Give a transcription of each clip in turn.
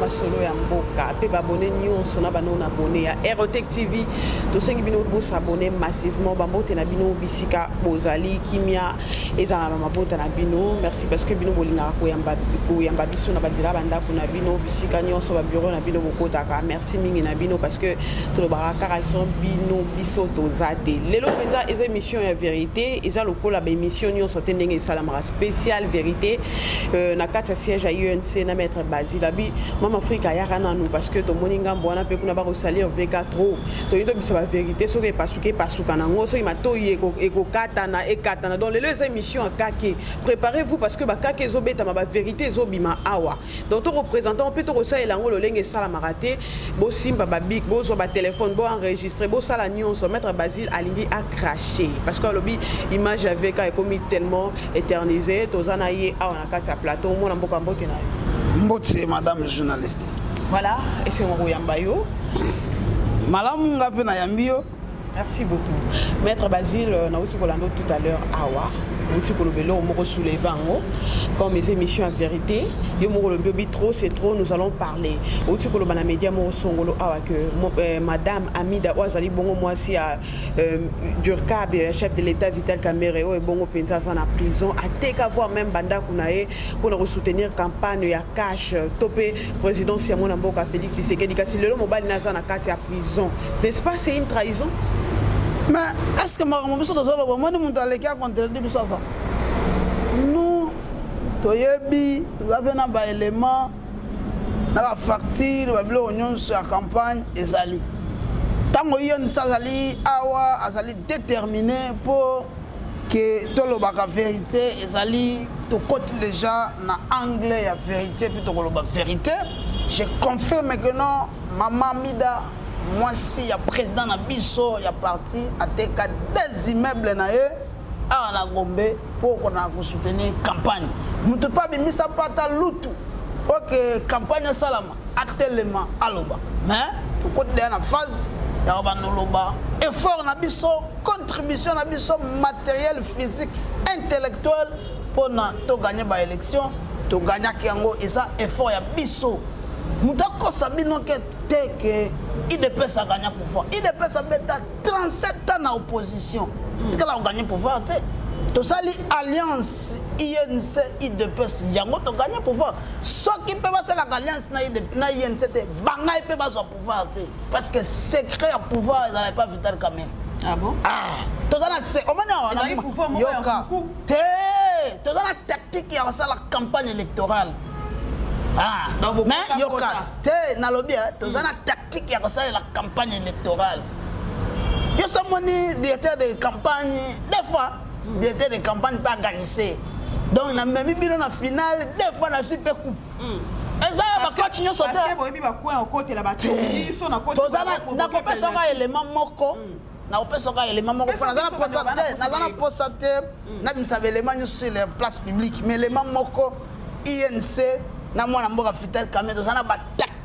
masolo ya mboka mpe babone nyonso na bano na bone ya aerotech tv tosengi bino bosabone massivement bambote na bino bisika bozali kimia ezala na mabota na bino merci parce que bino bolingaka koyamba biso na banzela bandako na bino bisika nyonso babiro na bino bokotaka merci merci mingi na bino parce que tolobaka kaka son bino biso toza te lelo mpenza eza émission ya vérité eza lokola baémission nyonso te ndenge esalamaka spécial vérité euh, na kati ya siège ya unc na maître basile abi mama afrika ayaka nanu parce que tomoni ngambo wana mpe kuna bakosalir vk trop toyei tobisa bavérité soki epasuki epasuka nango soki matoi ekokatana ekatana donc lelo eza émission ya kake préparez vous parce que bakake ezobetama bavérité ezobima awa donc to kopresente yango mpe tokosalela yango lolenge esalamaka te bosimba babic bozwa batelefone boenregistre bosala nyonso maître basile alingi acrache parce que alobi image ya vk ekomi tellement éternise toza na ye awa na kati ya plateau omona mboka mbote na yo mbote madame journaliste voilà esengo koyamba yo malamu nga mpe nayambi yo Merci beaucoup. Maître Basile, euh, nauti kolanda tout à l'heure awa. Nauti koloba eloko moko soulever yango comme les émissions en vérité. Yo moko lobi obi trop c'est trop nous allons parler. Nauti koloba na média moko songolo awa que euh, madame Amida oyo azali bongo mwasi ya euh, Durkab ya chef de l'État Vital Kamerhe oyo ebongo mpenza aza na prison ateka voir même bandako na ye mpo na kosoutenir campagne ya cash to mpe présidence ya mwana mboka Félix Tshisekedi kasi lelo mobali na aza na kati ya Trahison n'est ce pas c'est une trahison mais est ce que makambo biso tozoloba omoni moto aleki acontredi biso aza nous toyebi toza mpe na baélément na bafacture babiloko nyonso ya campagne ezali ntango yonisa azali awa azali détermine mpo ke tolobaka verite ezali tokoti deja na angle ya verite mpe tokoloba verite je confirme que non mama mida mwasi ya président na biso ya parti ateka des immeubles na ye awa na gombe mpo okona kosoutenir campagne moto mpe abimisa mpata lutu oke campagne esalama atelema aloba mais tokoti deya na phase ya kobanda oloba effort na biso contribution na biso matériel physique intellectuel mpo na toganye baélection toganyaki yango eza effort ya biso moto akosa bino ke te ke idps aganya pouvoir idps abeta 37 ans na opposition tikala koganye pouvoir te tosali alliance inc idps yango toganye pouvoir soki mpe basalaka alliance na inc te bangai mpe bazwa pouvoir te parce que secret ya pouvoir ezalaka epa vital kamere ah ah, toza na se omoni awayoka te toza na tactique ya kosala campagne électorale ah, mais yoka te nalobi eh, toza hmm. na tactique ya kosalela campagne électorale yo somoni directeur de campagne des fois hmm. directeur de campagne mpe aganise donc namemi bino na finale deux fois na si mpe coupe hmm. eza ya bacoach nyonso tenakopesa nga élément moko hmm. nakopesa nga élément moko mpo naza na mposa te nabimisa baélément nyonso sur la place publique mais élément moko inc na mwana mboka fitel kamie toza na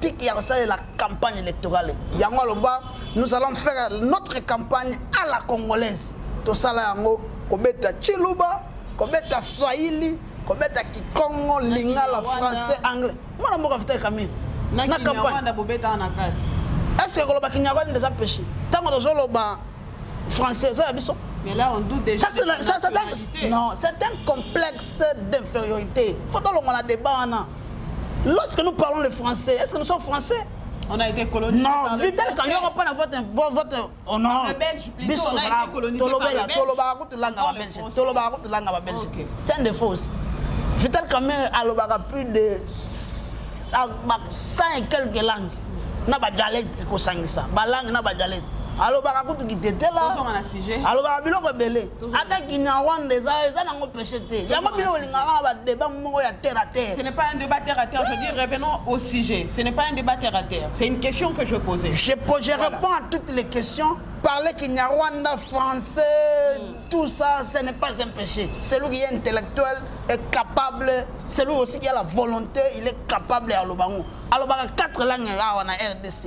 tactique ya kosalela campagne électorale yango aloba nous allons faire notre campagne à la congolaise tosala yango kobeta chiluba kobeta swahili kobeta kikongo lingala français anglais mwana mboka vital camille na campagne est-ce que koloba kinyarwanda nde eza péché ntango tozoloba français eza ya biso Mais là, on doute déjà. Ça, c'est la, ça, ça, non, c'est un complexe d'infériorité. Faut que l'on a débat. Lorsque nous parlons le français, est-ce que nous sommes français On a été colonisé. Non, Vital Kanyoro, pas votre, votre honneur. Le Belge, plutôt, Bisso, on a été colonisé par le Belge. Toloba, tout langue à Belge. Toloba, tout langue à Belge. C'est un défaut aussi. Vital Kanyoro, alobaka plus de 100 et quelques langues. Na ba dialecte kosangisa, ba langue na ba dialecte. Alobaka kutu kitetela. Alobaka biloko ebele. ata kinyarwanda eza eza nango peshe te yango bino olingaka na badeba moko ya terre à terre ce n'est pas un débat terre à terre je dis revenons au sujet ce n'est pas un débat terre à terre c'est une question que je posais je, je voilà. réponds à toutes les questions parler kinyarwanda français mm. tout ça ce n'est pas un péché celui qui est intellectuel est capable celui aussi qui a la volonté il est capable ya lobango alobaka 4 langue awa na rdc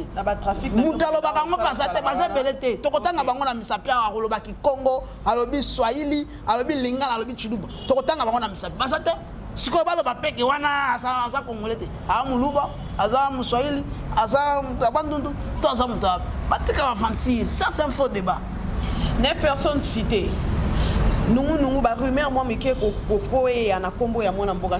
moto alobaka yango baza te baza ebele te tokotanga bango na misapi awa akoloba kikongo alobi swahili alobi lingala alobi chiluba tokotanga bango na misapi baza te sikoyo baloba peke wana aza kongole te aza moluba aza moswahili aza moto ya bandundu to aza moto ya batika baventure ça c'est un faux débat ne personne cité nungunungu barumeur mwa mike kokoeya na nkombo ya mwana mboka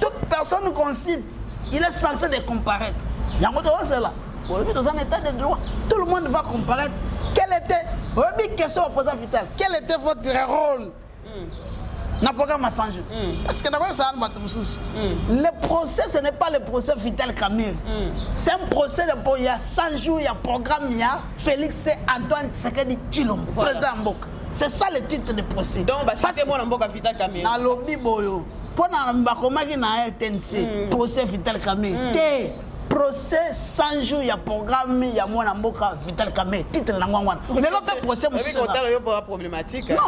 toute personne qu'on cite il est censé de comparaître yango tozozela olobi toza na état de droit tout le monde va comparaître quel était oyebi question oposa vital quel était votre rôle mm. na programme asange mm. parce que nakoyebisaka na bato mosusu mm. le procès ce n'est pas le procès vital camille mm. c'est un procès po ya 100 jours ya programme ya félix antoine tshisekedi tshilombo voilà. président ya mboka c'est ça le titre de procès donc basite mwana mboka vital camille nalobi boyo mpo na bakomaki na rtnc mm. procès vital kame mm. te procès 100 jours ya programme ya mwana mboka vital kame titre na ngwango wana lelo mpe procès mosusunon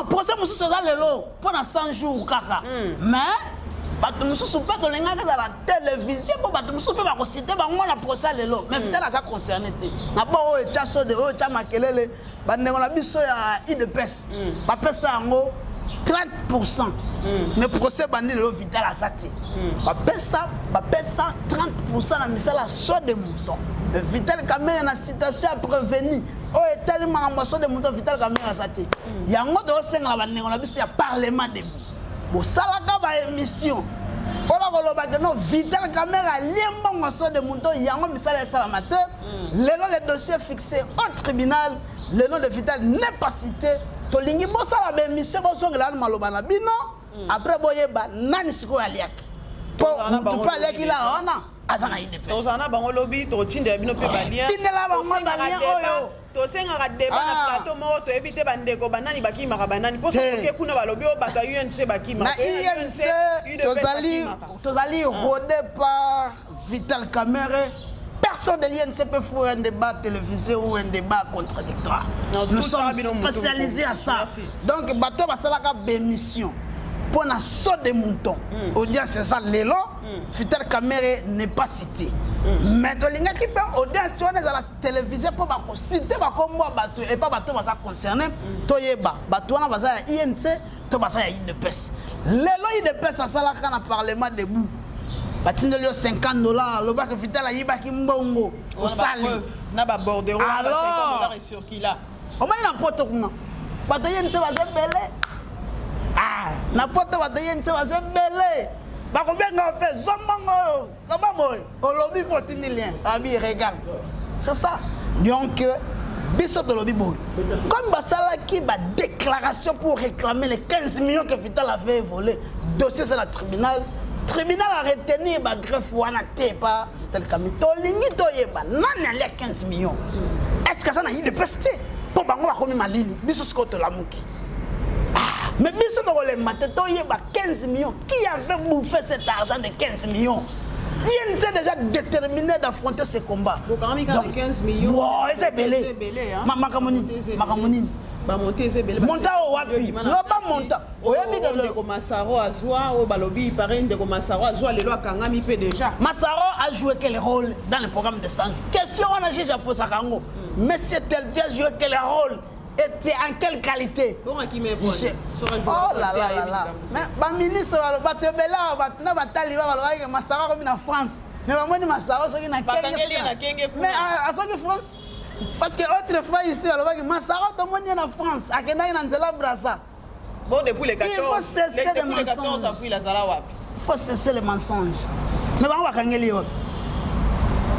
procès mosusu eza lelo mpo na 100 jours kaka mm. mais bato mosusu mpe tolingaki ezala televizio mpo bato mosusu mpe bakosite bango na procès lelo mais vital aza concerné te na bo oyo etya sode oyo etya makelele bandeko na biso ya udps mm. bapesa yango 30% mm. mais procès ebandi lelo vital aza te mm. bapesa bapesa 30% na misala so de mouton mais vital kamere na citation ya prevenu oyo etali makambo ya so de mouton vital kamere aza te mm. yango toosengela bandeko na biso ya parlement debout bosalaka baémission mpona kolobaka no vital kamere alie mbongo ya so de mouton yango misala esalama te hmm. lelo le dossier fixé au tribunal le nom de vital n'est pas cité tolingi bosala baémission bozongela na maloba na bino hmm. après boyeba nani sikoyo aliaki mpo motu mpe aliaki la wana aza na idps tozala na bango lobi tokotindela bino mpe balien tindela bango balien oyo tosengaka deba na ah. plateau moko toyebi te bandeko banani bakimaka banani mpo soki kuna balobi oyo bato ya unc bakimaka na unc tozali ah. rode par Vital Kamerhe personne de l'INCP pour un débat télévisé ou un débat contradictoire. Non, Nous sommes spécialisés à ça. Merci. Donc, bateau va salaka bémission. Pour la saut des moutons. Mm. Audience, c'est ça, l'élo. Mm. Vital Kamerhe n'est pas cité. Mm. Mais tolingaki mpe audience wana ezala télévisé mpo bakosite bakombo ya bato epa bato baza concerne toyeba bato wana baza ya inc to baza ya udps lelo udps asalaka na parlement debout batindeli yo 50 dollars lobaka vital ayibaki mbongo osali na babordero circula omoni na poto kuna bato ye nse baza ebele ah, na poto bato ye nse baza ebele bakobenga mpe zombongo oyo Loba boy, olobi po tindi lien. Abi regarde. C'est ça. Donc euh, biso tolobi boy. Comme basala ki ba déclaration pour réclamer les 15 millions que Vital avait volé. Dossier c'est la tribunal. Tribunal a retenu ba greffe wana te pa Vital Kamini. To lingi to yeba nani alia 15 millions. Est-ce que ça na idée peste? Po bango bakomi malili. Biso siko tolamuki. Mais biso tokolemba te toyeba 15 millions. Qui avait bouffé cet argent de 15 millions Bien c'est déjà déterminé d'affronter ce combat. Donc, 15 millions. Wow, c'est belé. Makambo nini Makambo nini bamonte eza ebele monta oyo wapi loba monta oyebi ndeko masaro azwa oyo balobi pareil ndeko masaro azwa lelo akangami mpe déjà masaro a joué quel rôle dans le programme de sange question wana juge aposaka yango monsieur teldia joué quel rôle Et tu es en quelle qualité Oh là là là là. Mais ba ministre ba ba te bela ba na ba taliba ba loye masara comme na France. Mais ba moni masara soki na kenge. Mais à soki France parce que autrefois ici alobaki masara tomoni ye na france akendaki na nzela brasa Bon, depuis le 14, Il faut cesser le, depuis le 14 avril, azala wapi Il faut cesser les mensonges. Mais bango bakangeli yo.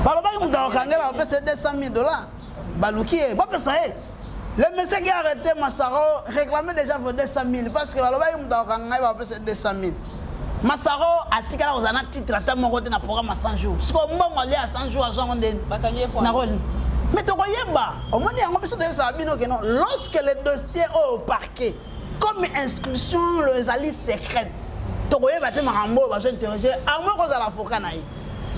Balobaki moto akokangela bapesa 200 000 dollars. Baluki ye, bapesa ye. Le monsieur qui a arrêté Massaro réclamait déjà vos 200 000 parce que balobaki moto akokanga ye bapesa 200 000. Masaro atikala kozala na titre ata moko te na programme ya 100 jours. Siko mbongo alia ya 100 jours azwa yango ndeni? Bakangi ye Na role. Mais tokoyeba. Omoni yango biso toyebisaka bino ke non. Lorsque le dossier oyo au parquet comme instruction lo ezali secrète. Tokoyeba te makambo oyo bazo interroger à moins kozala avocat na ye.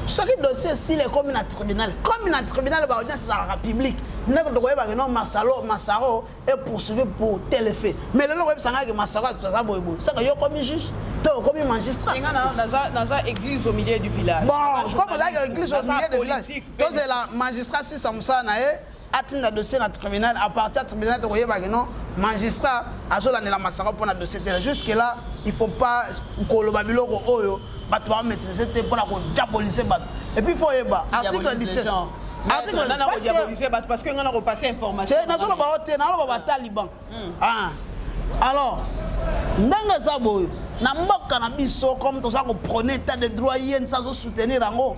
Soki dossier esili ekomi na tribunal. Comme na tribunal ba audience ezalaka publique. Ndeko tokoyeba ke non Masalo Masaro et poursuivi pour tel effet mais lelo oyebisa ngai ke masako aza boye boye saka yo okomi juge to okomi magistrat naza église au milieu du village bon comme ozalaki église au milieu du village tozela magistrat sisa mosala na ye atinda dossier na tribunal à partir ya tribunal tokoyebaki non magistrat azolandela masaka mpo na dossier tela jusque là il faut pas koloba biloko oyo bato ba maîtriser te mpona ko diaboliser bato et puis faut yeba article 17 article parce que bato parce que nga na ko passer information c'est nazo loba te na loba ba taliban hmm. ah alors ndenge eza boyo na mboka na biso comme toza ko prôner état de droit ye nsa azo soutenir yango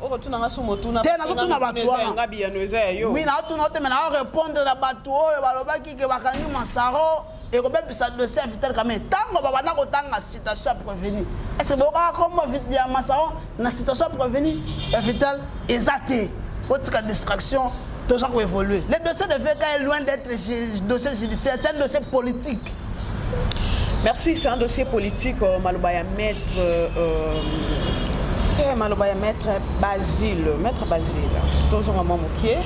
okotuna nga su motuna te nazotuna bato wana biyano eza ya yo wi naotuna ote me nao répondre na bato oyo balobaki ke bakangi masaro ekobebisa dossier ya vital kame ntango babanda kotanga citation ya prévenu ese bokaka kombo ya masaro na citation ya prévenu ya vital eza te otika distraction toza ko évoluer le dossier de VK est loin d'être dossier judiciaire c'est un dossier politique merci c'est un dossier politique euh, maloba ya maître euh, euh, eh, maloba ya maître basile maître basile tozonga mwa mokie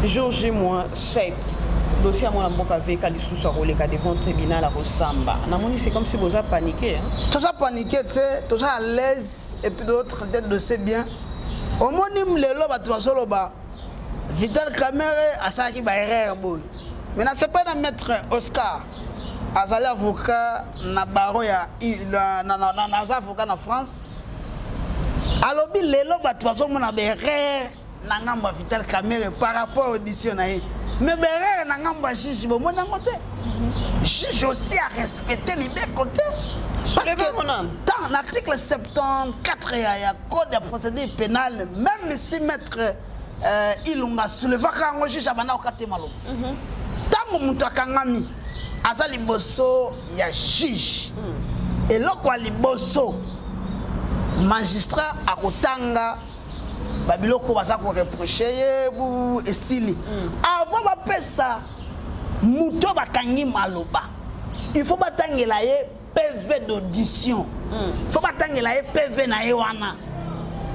jour j moins 7 dossier ya mwana mboka veka lisusu akoleka devant tribunal akosamba namoni c'est comme si boza panike toza panike te toza à l'aise et puis d'autres tete dossier bien omoni lelo bato bazoloba Vital Kamerhe asalaki ba erreur boye. Mais na sepa na maître Oscar azali avocat na baro ya na na na na avocat na France. Alobi lelo bato bazomona ba erreur na ngambo ya Vital Kamerhe par rapport audition na ye. Mais ba erreur na ngambo ya juge bomoni yango te. Mhm. Juge aussi a respecté libeko te. Parce que dans l'article 74 ya code ya procédure pénale même si maître euh, ilunga soulevaka yango juge abanda kokate maloba ntango mhm. moto akangami aza liboso ya juge mhm. eloko ya liboso magistrat akotanga babiloko baza koreproche ye esili mhm. avant bapesa moto bakangi maloba il faut batangela ye pv d'audition fo batangela ye pv na ye wana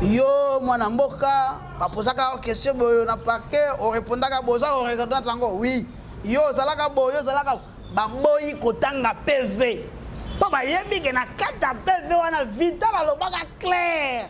yo mwana mboka bapozaka question boyo na parquet orepondaka boza oreconnaître yango oui yo ozalaka boyo ozalaka baboyi kotanga pv mpo bayebi ke na kati ya pv wana vital alobaka claire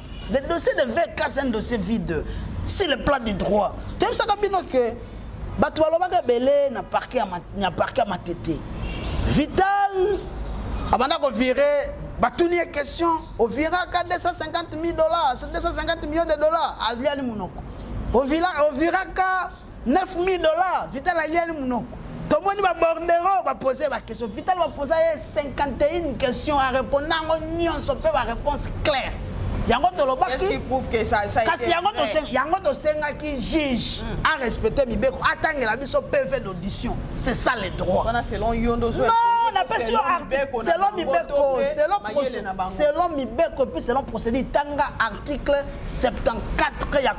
le dossier de vk c'est un dossier vide sur le plan du droit toyebisaka bino ke bato balobaka ebele na parke ya matete vital abanda kovire batuni ye question oviraka 250 000 dollars 250 millions de dollars aliani monoko oviraka 9000 dollars vital aliani munoko tomoni babordero bapose baquestion vital baposa ye 51 question areponda yango nyonso mpe baréponse claire yango tolobaki kasi yango tosengaki juge hmm. a respecte mibeko atangela biso pv d'audition c'est ça le droit napesi yo selon mibeko selon mibeko epuis selon procédure tanga article 74 ya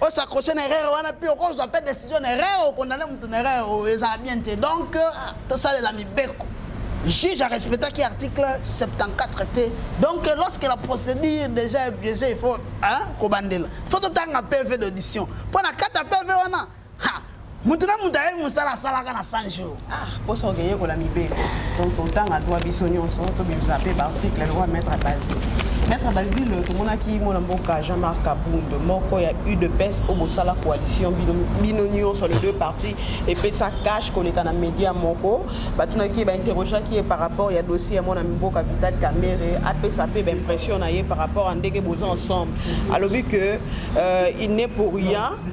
o s'accrocher na erreur wana mpe okozwa mpe décision na erreur okondane moto na erreur oyo ezala bien te donc tosalela mibeko juge a respectaki article 74 te donc lorsque la procédure déjà est biaisée il faut hein, kobandela faut totanga pv d'audition mpo na kata pv wana moto na moto ayebi mosala asalaka na 100 jour ah, mposa oke yekola mibele donc totanga twa biso nyonso tobimisa mpe baarticle lokola maître basi maître basile tomonaki mwana mboka jean marc kabund moko ya udps oyo bosala coalition bino nyonso les deux partis epesa cash koleka na media moko batunaki ye bainterrogeaki ye par rapport ya dossier ya mwana mboka vital kamere apesa mpe baimpression na ye par rapport ya ndenge boza ensemble alobi que euh, il n'est pour rien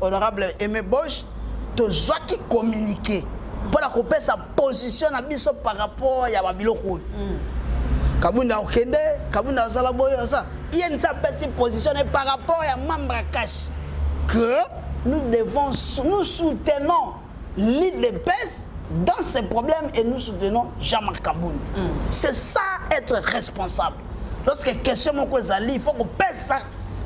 Honorable Aime Bosch, tozwaki communiqué mpo na kopesa position na biso par rapport ya babiloko oyo mm. kabunda okende kabunda azala boye oza ye nisa apesi position na ye par rapport ya membre ya cash que nous devons nous soutenons L'IDPS dans ses problèmes et nous soutenons Jean-Marc Kabund. Mm. C'est ça être responsable. Lorsque question moko ezali, il faut qu'on pèse ça.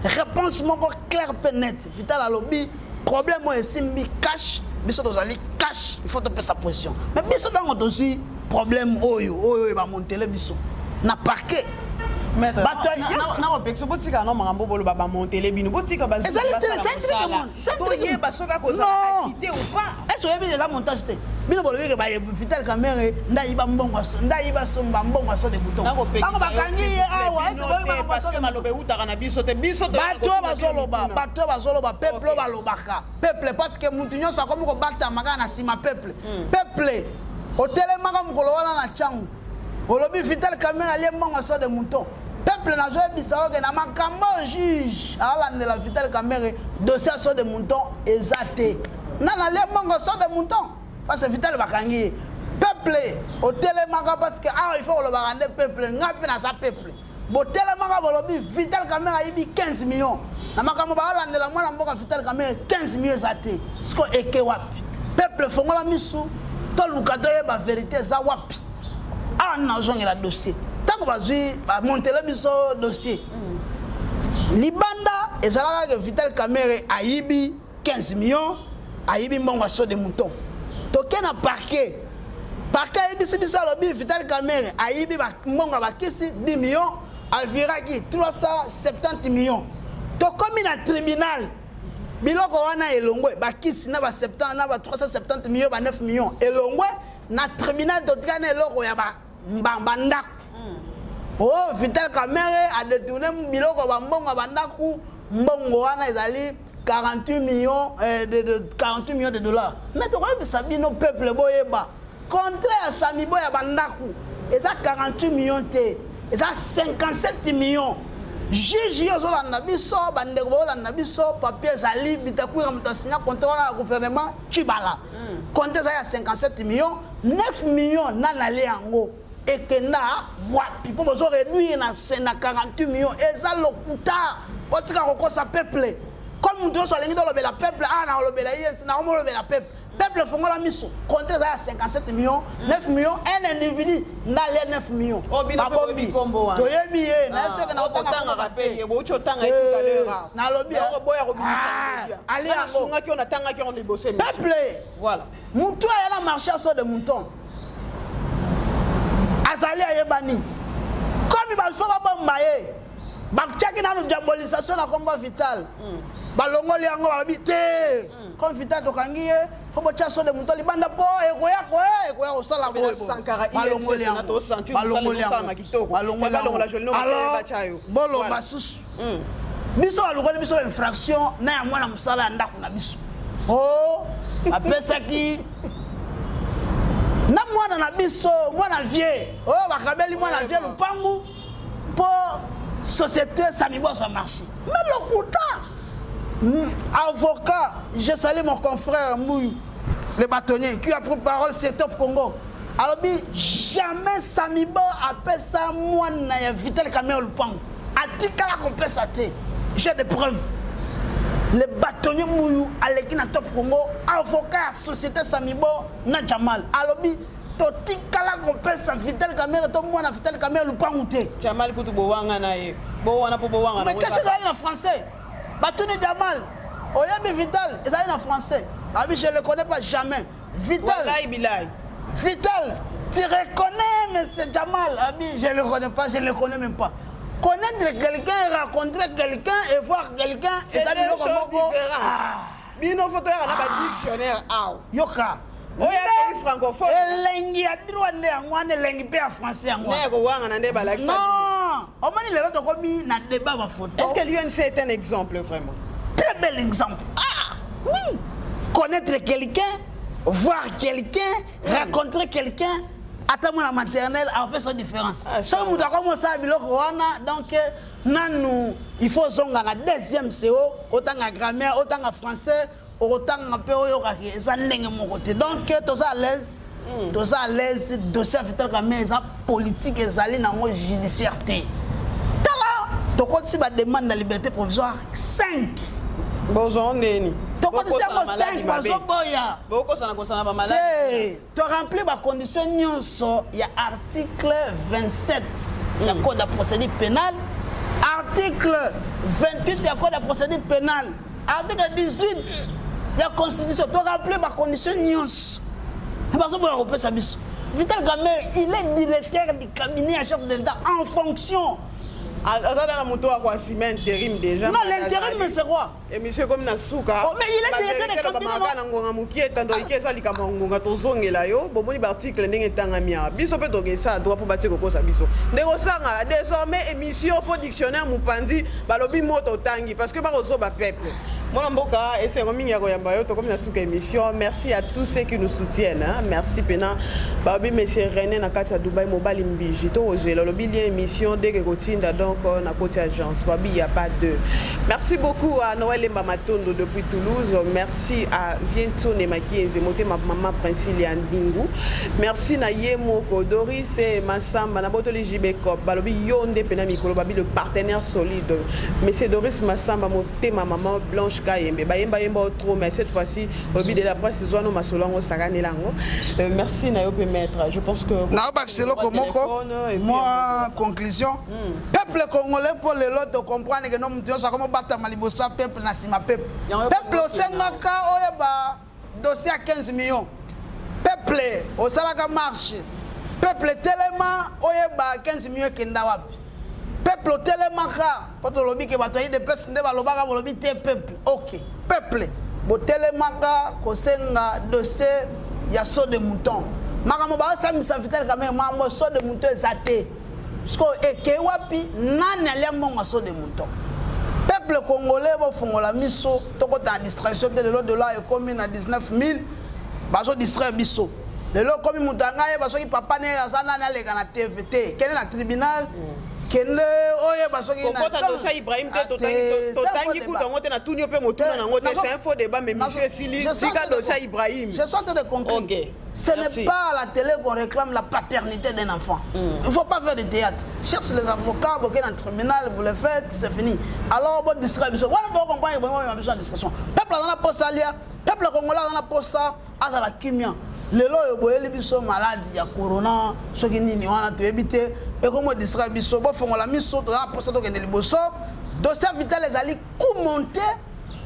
Réponse moko claire pe net. Vital alobi problème oyo esimbi cash biso tozali cash il faut topesa pression mais biso ntango tozwi problème oyo oyo ebamontele biso na parquet bato ya botika no makambo boloba bamontele bino botika toyeba soki akozala akite ou pas ese oyebi eza montage te bino bolobi ke baye vital kamere ndayiba mbongo ndayiba somba mbongo aso de bouton bango bakangi ye awa ese boyebi bango baso de maloba ewutaka na biso te biso bato oyo bazoloba bato oyo bazoloba peuple oyo balobaka peuple parce que mutu nyonso akomi kobatama kaka na nsima peuple hmm. peuple otelemaka mokolo wana na ntango olobi vital kamere alie mbongo so de mouton peuple nazoyebisa oke na makambo oyo juge alandela vital kamere dossier ya so de mouton eza te nani alie mbongo so de mouton parce que vital bakangi ye peuple otelemaka parce que awa ah, il faut kolobaka nde peuple ngai mpe naza peuple botelemaka bolobi vital kamere ayibi 15 millions na makambo baalandela mwana mboka vital kamere 15 millions eza te siko eke wapi peuple fongola misu toluka toyeba verite eza wapi awa nini nazongela dossier ntango bazwi bamontele biso dossier libanda ezalaka ke vital kamere ayibi 15 millions ayibi mbongo ya sode mouton toke na parquet parquet ayebisi biso alobi vital camere ayibi mbongo ya bakisi 10 millions aviraki 370 millions tokomi na tribunal biloko wana elongwe bakisi na ba 370 millions ba 9 millions elongwe na tribunal totika na eloko ya ba mbamba ndako hmm. o oh, vital kamere adetourne biloko bambongo ya bandako mbongo wana ezali 48 millions, euh, de, de, 48 millions de dollars mais tokoyebisa bino peuple boyeba contrat ya samibo ya bandako eza 48 millions te eza 57 millions juge yo ozolanda biso bandeko baolanda biso papier ezali bitakwira moto asinya contrat wana ya gouvernement cibala hmm. compte eza ya 57 millions 9 millions na nale yango ekenda wapi mpo bozo réduire na 48 millions eza lokuta botika kokosa peuple comme moto nyonso alingi tolobela peuple a ah, naolobela ye naomolobela peuple peuple efongola miso compte eza ya 57 millions 9 millions un individu nga le 9 million oh, babomi toyebi ye na soki na otangaka pe ye bouti otanga ye tout à l'heure ah. nalobi yango boya kobimisa ah, ali yango sungaki ona tangaki on liboso peuple voilà mutu aya na marché aso de mouton azali ayebani komi bazo babomba ye batiaki nanu diabolisation na kombo vital hmm. balongoli yango balobi te hmm. comme vital tokangi ye fo botya sode moto libanda mpo ekoya koya ekoya kosala bolomba susu hmm. biso balukoli biso infraction na ya mwana mosala ya ndako na biso o oh, apesaki na mwana na biso mwana vie oyo oh, bakabeli mwana vie lopangu mpo société samibo azwa marché me lokuta hmm, avocat je sali mon confrère mbuyu le bâtonnier qui a pris parole c'est top congo alobi jamais samibo apesa mwana ya vital kamea lupango atikala kopesa te j'ai des preuves le bâtonnier muyu aleki na top congo avocat ya société samibo na jamal alobi totikala kopesa vital kamere to mwana vital kamere lupangu te jamal kutu bowanga na ye bowana mpo bowanga mais kesho ezali na français batuni jamal oyebi vital ezali na français abi je le connais pas jamais vital wallahi bilahi vital tu reconnais monsieur jamal abi je le connais pas je le connais même pas connaître quelqu'un rencontrer quelqu'un et voir quelqu'un ezali biloko moko bino foto yaka na ba ah. dictionnaire awa yoka oyo francophone elengi ya droit nde yango wana elengi mpe ya français yango wana kowangana nde balakisa non omoni lelo tokomi na débat bafoto est ce que l'unc est un exemple vraiment très bel exemple ah oui connaître quelqu'un voir quelqu'un rencontrer quelqu'un ata mwana maternel apesa différence ah, soki moto akomi osala biloko wana donc nanu il faut ozonga na deuxième seo otanga grammaire otanga français okotanga mpe oyokaki eza ndenge moko te donc toza à l'aise Mm. toza à l'aise dossier ya vital kame eza politique ezali nango judiciaire te tala tokotisi bademande na liberté provisoire 5 bozwa ndeni tokotisi yango 5 bazoboya bokosana kosana bamaladi To remplir ba conditions nyonso ya article 27 ya mm. code ya procédure pénale, article 28 ya code ya procédure pénale, article 18 ya constitution. To remplir ba conditions nyonso. Bazo boya kopesa biso. Vital Kamerhe, il est directeur du cabinet à chef de l'État en fonction. Aza na moto wa kwa ciment intérim déjà. Non, l'intérim c'est quoi emission ekomi na suka balobaka na ngonga mokie etando ike eza likambo ya ngonga tozongela yo bomoni baarticle ndenge etangami awa biso mpe tokesa droit mpo batie kokosa biso ndenge osanga désormais émission fo dictionnaire mopanzi balobi moto otangi parce que bakozoba peuple mwana mboka esengo mingi ya koyamba yo tokomi na suka émission merci à tous ceux qui nous soutiennent hein. merci mpena balobi monsieur rené na kati ya dubai mobali mbiji tokozela olobi lien émission deke kotinda donc euh, na koti agence babi ya pas deux Merci beaucoup à Noël Emba Matondo depuis Toulouse. Merci à Viento Nemakienze, Motema Maman Princilia Ndingu. Merci na Yemoko, Doris et Massamba, Nabotoli JB Cop, Balobi Yonde Pena Mikolo, Babi le partenaire solide. Mais c'est Doris Massamba, Motema Maman Blanche Kayembe. Bayemba Yemba trop, mais cette fois-ci, Obi de la presse, Zoano Masolango, Sagane Lango. Euh, merci na Yope Maître. Je pense que... Na Baxeloko Moko, moi, conclusion. Hmm. peuple congolais mpo lelo tocomprendre ke no moto nyonso akomi obatama liboso ya peuple na nsima peuple peuple osengaka oyeba dossier ya 15 millions peuple osalaka marche peuple telema oyeba 15 millions ekenda wapi peuple otelemaka mpo tolobi ke bato ya idps nde balobaka bolobi te peuple ok peuple botelemaka kosenga dossier ya saut de mouton makambo baosambisa vital kamere mambo saut de mouton eza te Sikoyo ekei wapi? Nani alia mbongo ya saut de mouton? Peuple congolais bofungola miso tokota na distraction te lelo dollar ekomi na 19000 bazo distraire biso lelo okomi moto ya ngai yeba soki papa ne aza nani aleka na tv te kende na tribunal kende oyeba soki kokotatosa ibrahim te totangi kutu yango te natuni yo mpe motuna na yango te c'est un faux débat mais monsieur esili tika dosa ibrahim je suis en train de conclure Ce n'est pas à la télé qu'on réclame la paternité d'un enfant. Mm. Il ne faut pas faire de théâtre. Cherche les avocats, vous dans le tribunal, vous le faites, c'est fini. Alors, votre distraction. Voilà, vous comprenez, vous avez besoin de distraction. Peuple a pour ça, peuple congolais a pour ça, à la kimia. lelo oyo boyeli biso maladi ya corona soki nini wana toyebi te ekomo distraire biso bofongola miso toza na mposa tokende liboso dossier vital ezali commenter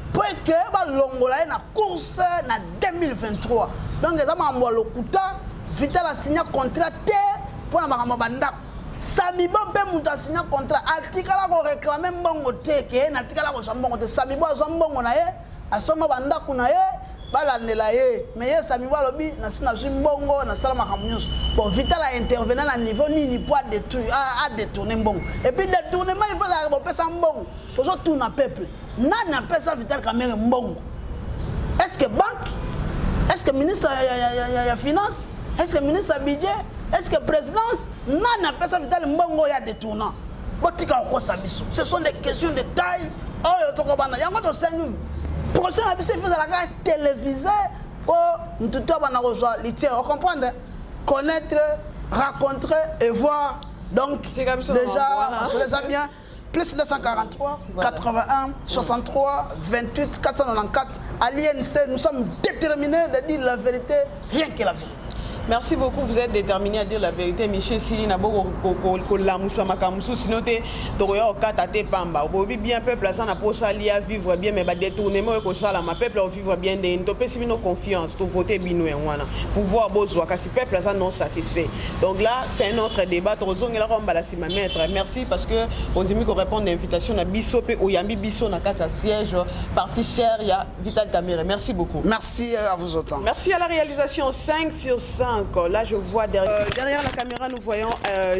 mpo ete balongola ye na course na 2023 donc eza makambo ya lokuta vital asinya contrat te mpo na makambo ya bandako samibo mpe moto asinya contrat atikala koreklame mbongo te ke natikala kozwa mbongo te samibo azwa mbongo na ye asomba bandako na ye balandela ye me ye samibo alobi nasi nazwi mbongo nasala makambo nyonso bon vital aintervena na niveau nini mpo adetourne mbongo epuis detournement ifo ezalaka bopesa mbongo tozotuna peuple nani apesa vital kamere mbongo est ce que banque est ce que ministre ya, ya, ya, ya, ya finance est ce que ministre ya budget est ce que présidence nani apesa vital mbongo oyo ya détournant botika kokosa biso ce sont des questions de taille oyo tokobana yango tosengi procès na biso efezalaka télévisé mpo ntutu abana kozwa litiere ocomprendre connaître rencontrer et voir donc déjà on se les a bien plus 243, 81, 63, 28, 494. À l'INC, nous sommes déterminés de dire la vérité, rien que la vérité. Merci beaucoup, vous êtes déterminé à dire la vérité. Michel Sili, na boko kolamusa makamusu, sinon te tokoya okata te pamba. Okobi bien peuple aza na posa lia vivre bien mais ba détournement ekosala ma peuple au vivre bien de ntopesi bino confiance, to voter bino yango wana. Pouvoir bozwa kasi peuple aza non satisfait donc là c'est un autre débat tokozongela kwa mbala nsima maître merci parce que ondimi korépondre na invitation na biso mpe oyambi biso na kati ya siège parti cher ya vital camere merci beaucoup merci à vous autant merci à la réalisation 5 sur 5 là je vois derrière, euh, derrière la caméra nous voyons euh,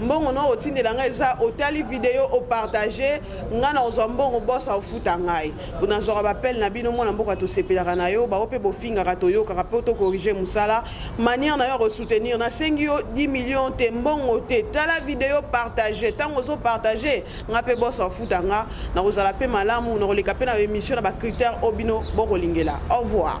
mbongo no otindela ngai eza otali video opartage ngai na ozwa mbongo bosa ofuta ngai nazwaka bapele na bino mwana mboka tosepelaka na yo bango mpe bofingaka toyokaka mpe tokorige mosala maniere na yo ya kosoutenir nasengi yo 10 million te mbongo te tala video partage ntango ozopartage ngai mpe bosa ofuta ngai nakozala mpe malamu nakoleka mpe na emission na bacritère oyo bino bokolingela au revoir